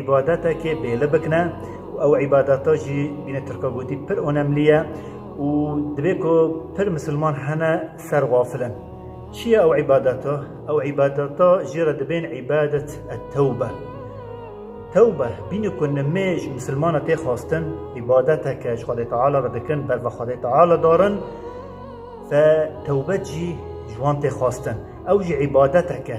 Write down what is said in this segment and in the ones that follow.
Îbadetekê bêlibik ne û ew îbadeta jî bîne Tirka gotî pir onemlî ye û dibê ku pir misilman hene ser xafil in. Çi ye ew îbadeta? Ew îbadeta jê re dibên îbadet et tewbe. Tewbe bîne ku nimê ji misilmana tê xwestin îbadeteke ji Xwedê Teala re dikin ber ve Xwedê Teala darin ve tewbe jî ji wan tê xwestin. Ew jî îbadeteke.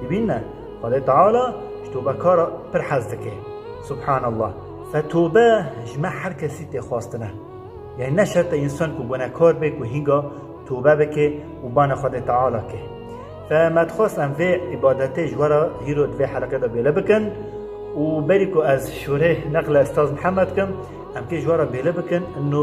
Dibîn ne, Xwedê Teala ji tobe kar e pir hez dike. Subhan Allah. Fe tobe ji me her kesî tê xwestin e. Yanî ne şert e însan ku gunekar be ku hînga tobe bike û bane Xwedê Teala ke. Fe me dixwest em vê îbadetê ji we re hîro di vê heleqê de bêle bikin û berî ku ez şûrê neqle Estaz Mihemed kim, em kê ji we re bêle bikin, inno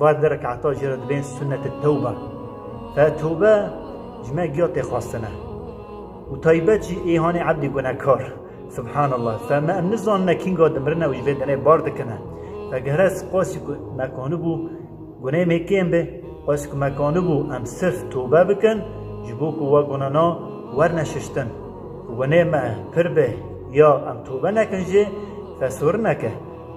Var di rekata jê re dibên sunnetê tewbe. Ev tewbe ji me giya tê xwestin e. Û taybet jî êhanê ebdê gunehkar. Subhanallah. Fe me em nizanine kînga dimirin e û ji vê denê bar dikin e. Fe gehre spasî ku me ki anibû guneyê me kêm be, spasî ku me ki anibû em sirf tewbe bikin ji bo ku wa gunena werne şiştin. Ku guneyê me pir be ya em tewbe nekin jê fe sorineke.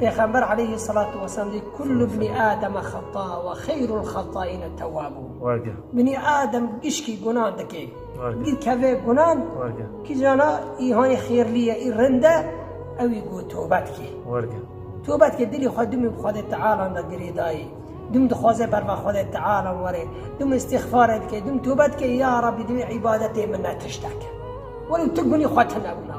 Pêxember aleyhi selatu weselam dê Kullu bni Ademe xeta ve xeyrul xetaîne tewabûn Binî Adem gişkî gunan dike, gîr keve gunan kîjana îhanê xêrlî ye î rind e ew î ku tobe dike. Tobe dike dilê xwe dimî bi Xwedê Tealan re girê dayê, dim dixwaze ber va Xwedê Tealan were, dim îstîxfare dike, dim tobe dike, ya Rabbî divê îbadetê min ne tişt e ke. Were û tu gunî xwe tune wina.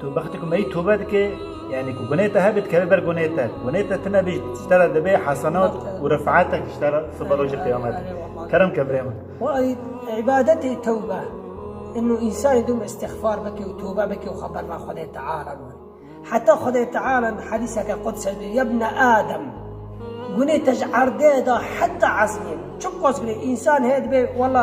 Tu wextê ku meyî tobe dike yanî ku gunê te hebe dikeve ber gunê te. Gunê te tune bê ji te re dibe hesenat û rifetek ji te re siba rojê qiyamete. Kerem ke birê min. Wa îbadetê tewbe in û însanî dûm îstixfar bike û tobe bike û xwe berna Xwedê Teala bime. Heta Xwedê Teala di hedîseke qudse de Yebne Adem gunê te ji erdê de heta esmên. Çi qas gunê însan heye dibe wela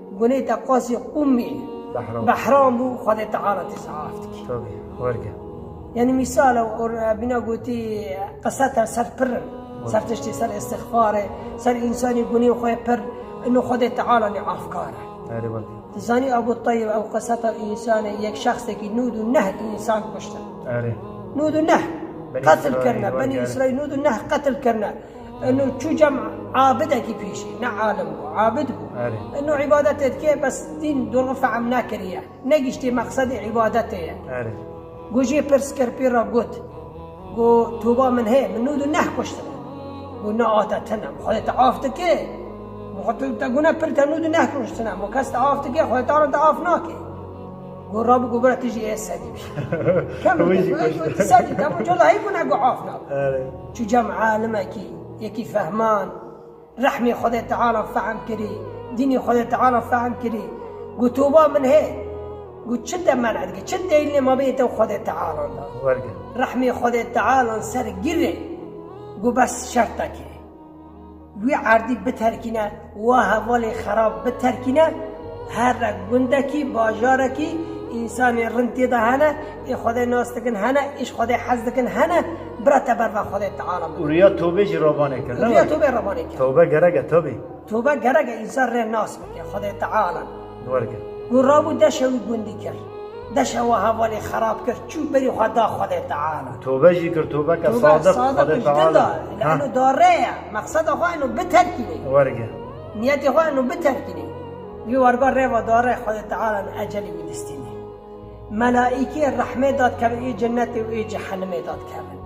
Gunê te qasî qûmî behram bû Xwedê Teala te saf dike. Tabî werge. Yanî mîsal e bîna gotî qise te ser pir in. Ser tiştê ser îstixfare, ser însanî gunê xwe pir in û Xwedê Teala nê afkar e. Erê werge. Ti zanî Ebû Teyb ew qise te însan e yek şexsekî nûd û neh însan kuştin. Erê. Nûd û neh qetil kirine. Benî Îsraîl nûd û neh qetil kirine. Eno çû cem abidekî pêşî ne alim bû abid bû. Eno îbadetê dike bes dîn dorxî fehm nekiriye. Negîştê meqsedê îbadetê ye. Gojê pirs kir pê re got, Go toba min heye min nûdû neh kuştine. Go na ate tine mi Xwedê te af dike. Mi Xwedê te gune pir te nûdû neh kuştine. Mi kes te af dike Xwedê tane te af nake. Go rabû go bira tu jî yê sedî bî. Kemir Wî jî kuşt. tu sedî tamo cola heyv bûna go af na. Erê. Çû cem alimekî, yekî fehman, rehmê Xwedê Teala fehm kirî, dînê Xwedê Teala fehm kirî. Go toba min hê. Go çi te men'e dike, çi deylnê mabênê te û Xwedê Tealan de? Wergirî. Rehmê Xwedê Tealan ser girê. Go bes şertekê. Wî erdî biterkîne wa hevalê xerab biterkîne her re gundekî bajarekî însanên rind tê de hene ê Xwedê nas dikin hene ê ji Xwedê hez dikin hene bira te ber va Xwedê teala min. Ûriya tobê jî ravanê kir. Ûriya tobê ravanê kir. Tobe gerek e tabî. Tobe gerek e însan rê nas bike Xwedê teala. wergir. Û rabû deşe wî gundî kir. Deşe wiha velê xerab kir, çû berî xwe da Xwedê Teala. Û tobe jî kir, tobeke sadiq Xwedê Teala. Tobe sadiq ji dil de, li eno da re ye, mexseda xwe eno biterkînê. Wergir. Niyetê xwe eno biterkînê. Vî werga reva da re Xwedê Teala li ecelê wî distînê. Melaîkê rehmê da dikevin ê cenetê û ê cehenimê da dikevin.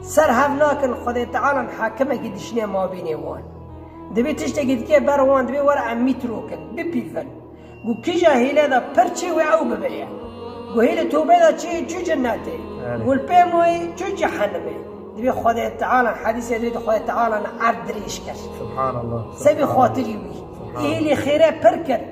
Ser hev nakin Xwedê Teala hakimekî dişîne mabînê wan. Divê tiştekî dike ber wan divê were em mîtrokin, bipîvin. Ku kîja hîle de pir çê wê ew bibe ye. Ku hêlê tewbe de çê ye çû cinetê, gulpê mayê çû cehenimê. Divê Xwedê Teala hedîsê divê di Xwedê Teala ne erd dirêj kir. Subhanallah. Sebî xatirî wî. Ê hêlê xêre pir kir.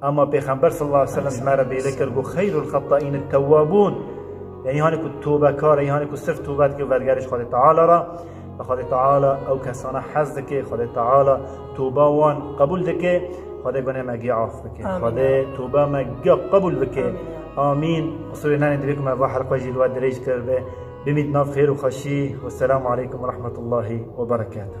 Ama Pêxember sallallahu aleyhi ve sellem di me re bêle kir ku xeyrul xetta'în et-tewwabûn yanî hanê ku tobekar e, hanê ku sirf tobe dike û vergerîş Xwedê Teala re ve Xwedê Teala ew kesana hez dike, Xwedê Teala toba wan qebûl dike. Xwedê gunê me gê af bike. Xwedê toba me gê qebûl bike. Amîn. Qisûrê nenê divê ku me va helqe jî li we dirêj kiribe. Bimît nav xêr û xweşî. Wesselamu aleykum werahmetullahi weberekatuh.